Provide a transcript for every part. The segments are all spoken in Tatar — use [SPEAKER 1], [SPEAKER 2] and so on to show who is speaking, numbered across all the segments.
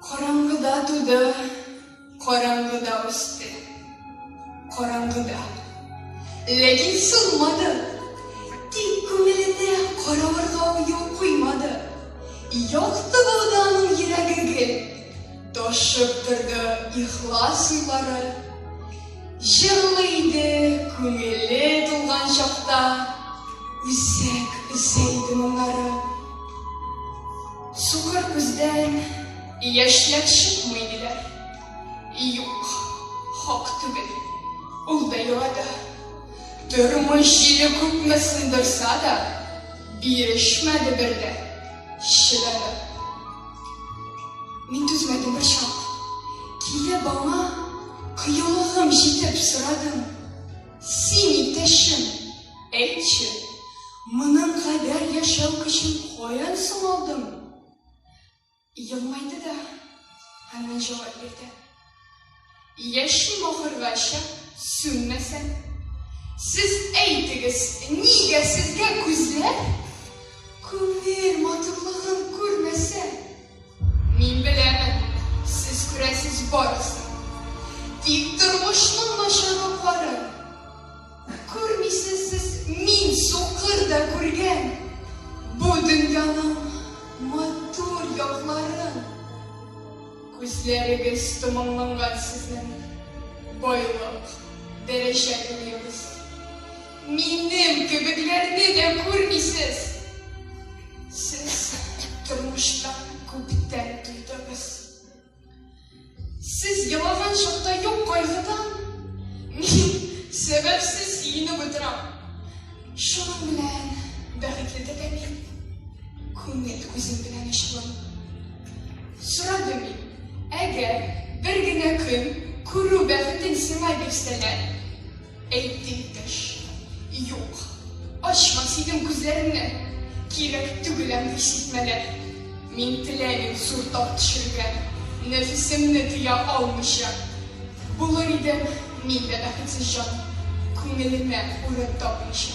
[SPEAKER 1] Караңгыда туды, караңгыда үсте, караңгыда. Ләкин сулмады, тик күңеленә каравырга уен куймады. Якты булды аның йөрәге гел, ташып торды ихлас уйлары. Җырлы иде, күңеле тулган чакта, үзәк үсә иде моңнары. Сукыр күздән яшьләр чыкмый диләр. Юк, хак түгел. Ул да елады. Тормыш җиле күпме сындырса да, бирешмәде бер дә, чыдады. Мин түзмәдем бер чак. Килеп аңа кыюлыгым җитеп сорадым. Син итешем, әйтче, моның кадәр яшәү көчен каян соң алдың? Елмайды да, һәммә җавап бирде. Яшим ахыргача, сүнмәсәм. Сез әйтегез, нигә сезгә күзләр күңел матурлыгын күрмәсә? Мин беләмен, сез күрәсез барысын. Тик тормышның начарлыкларын күрмисез сез. Мин сукыр да күргән бу дөньяның матур якларын. Күзләрегез томанланган сезнең, байлык, дәрәҗә күрегез. Минем кебекләрне дә күрмисез. Сез тормышта күптән туйдыгыз. Сез елаган чакта юк кайгыдан мин сәбәпсез сөенеп утырам. Шуның белән бәхетле дә мин. Күңел күзем белән ачылам. Сорадым мин, әгәр бер генә көн күрү бәхетен сиңа бирсәләр, Әйт, иптәш, юк, ачма синең күзләреңне, кирәк түгел андый сиртмәләр. Мин теләмим зур тап төшерергә, нәфесемне тыя алмыйча. Булыр идем мин дә бәхетсез җан, күңелемә урын тапмыйча.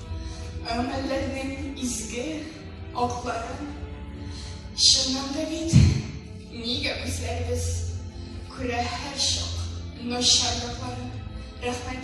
[SPEAKER 1] Гамәлләрнең изге атлары Чыннан да бит нигә үзләребез Күрә һәрчак начар якларын Рәхмәт